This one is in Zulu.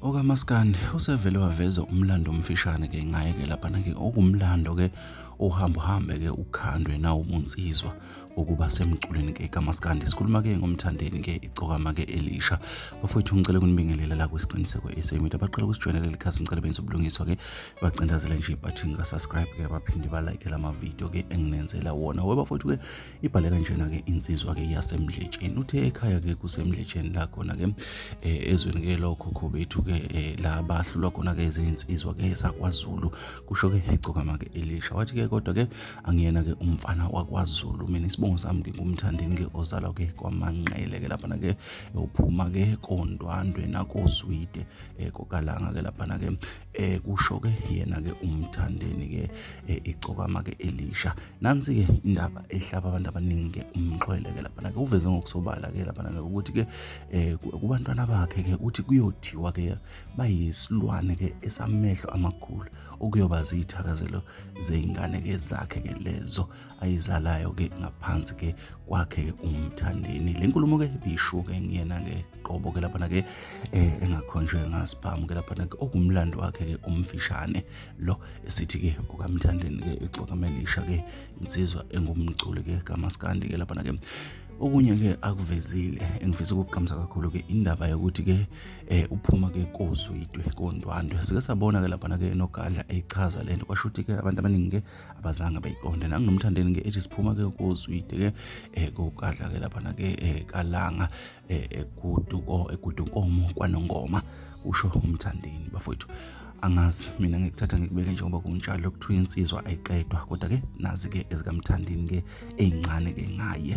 okamaskandi usevele waveza umlando omfishane ke ngaye ke laphana ke okumlando ke ohamba uhambe ke ukhandwe nawo ubunsizwa ukuba semculweni ke kamaskandi sikhuluma ke ngomthandeni ke icokama ke elisha bafowethu ngicela kunibingelela la kwisiqiniseko esemit abaqala ukusijoyinela leli khasi ngicela benze ubulungiswa ke bacindazele nje ibathini ka-subscribe ke baphinde balike la mavidiyo ke enginenzela wona we bafowethu ke ibhale kanjena-ke insizwa-ke yasemdletsheni uthe ekhaya-ke kusemdletsheni la khona-ke um eh, ezweni-ke lokhokho bethu-ke um eh, la bahlulwa khona-ke izinsizwa-ke zakwazulu kusho-ke igcokama-ke elisha wathi-ke kodwa-ke angiyena-ke umfana wakwazulu mina isibongo sami-ke ngumthandini-ke ozalwa-ke kwamanqele-ke laphana-ke uphuma-ke kondwandwe nakozwide um kokalanga-ke laphana-ke eh kusho ke yena ke umthandeni ke eh, icokama ke elisha nansi ke indaba ehlaba abantu abaningi ke umxhwele ke lapha ke uveze ngokusobala ke lapha ke ukuthi ke eh, kubantwana bakhe ke uthi kuyothiwa ke bayisilwane ke esamehlo amakhulu okuyoba zithakazelo zeingane ke zakhe ke lezo ayizalayo-ke ngaphansi-ke kwakhe umthandeni le nkulumo-ke biyishuke nguyena-ke qobo-ke laphana-ke um engakhonjwe ngasiphamu-ke laphana-ke okumlando wakhe-ke umfishane lo esithi-ke ukamthandeni-ke ixokamelisha-ke insizwa engumculi-ke kamaskandi-ke laphana-ke okunye-ke akuvezile engifisa ukugqamisa kakhulu-ke indaba yokuthi-ke um uphuma-ke koswidwe kondwandwe sike sabona-ke laphana-ke enogadla eyichaza le nto kwasho ukuthi-ke abantu abaningi-ke abazange bayiqonde nanginomthandeni ke ethi siphuma ke kozwide ke eh kokadla ke lapha na ke eh, kalanga eh, egudu ko egudu nkomo kwanongoma usho umthandeni bafowethu angazi mina ngikuthatha ngikubeke njengoba kunjalo kuthiwa insizwa ayiqedwa kodwa ke nazi ke ezikamthandini ke ezincane ke ngaye